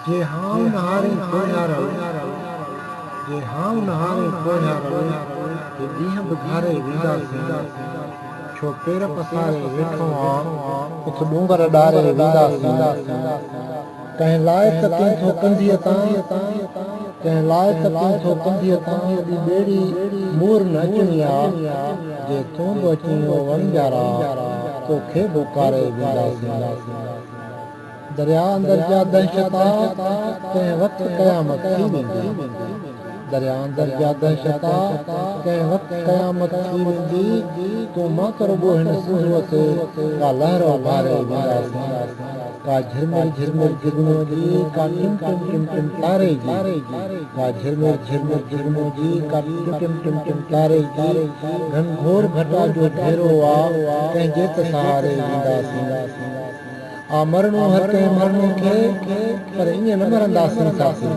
جي هانء نهارين پوهيارل، جي هانء نهارين پوهيارل، جي ڏينهن به گهاري وينداسين، ڇو پير پساري ويٺو آن، اٿ ڏونگر ڏاري وينداسين، ڪنهن لاء ته ڪين ٿو ڪنڌيء تان، ڪنهن لاء ته ڪين ٿو ڪنڌيء تان، ايڏي ٻيڙي مور نه اچڻي آ، جي تون به اچين او وڻجارا، تو کي به اڪاري وينداسين. درياء اندر جا دهشتا ڪنهن وقت قيامت ٿي ويندي درياء اندر جا دهشتا ڪنهن وقت قيامت ٿي ويندي تون مان ڪرو ٻو هن سنڌوء تي ڪا لهر اڀاري وينداسين ڪا جهرمر جهرمر جهگنو جي ڪا ٽم ٽم ٽم ٽم تاري جي ڪا جهرمر جهرمر جهگنو جي ڪا ٽم ٽم ٽم ٽم تاري جي گهن گهور گهٽا جو گهيرو آ ڪنهن جي ته سهاري وينداسين. آ مرڻو هر ڪنهن ماڻهوء کي، پر ائين نه مرنداسين ساٿي!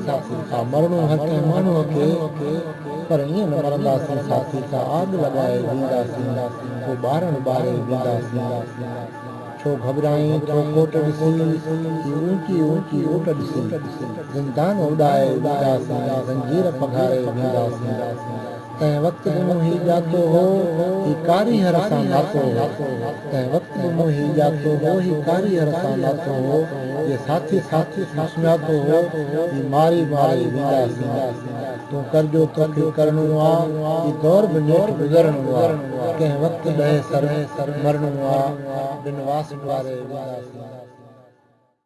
آ مرڻو هر ڪنهن ماڻهوء کي، پر ائين نه مرنداسين ساٿي! ڪا آڳ لڳائي وينداسين، ڪو ٻارڻ ٻاري وينداسين! ڇو گهٻرائين ٿو ڪوٽ ڏسي، هي اوچي اوچي اوٽ ڏسي! زندان اڏائي وينداسين، زنجير پگهاري وينداسين! تنهن وقت به مون هي ڄاتو هو، هي ڪاري هر سان ناتو هو. تنهن وقت به مون هي ڄاتو هو، هي ڪاري هر سان ناتو هو. جي ساٿي ساٿي سان سڃاتو هو، جي ماري ماري وينداسين. تون ڪر جو توکي ڪرڻو آ، هي دور به نيٺ گذرڻو آ. ڪنهن وقت ڏهي سر ۾ مرڻو آ، بن واسٽ واري وينداسين.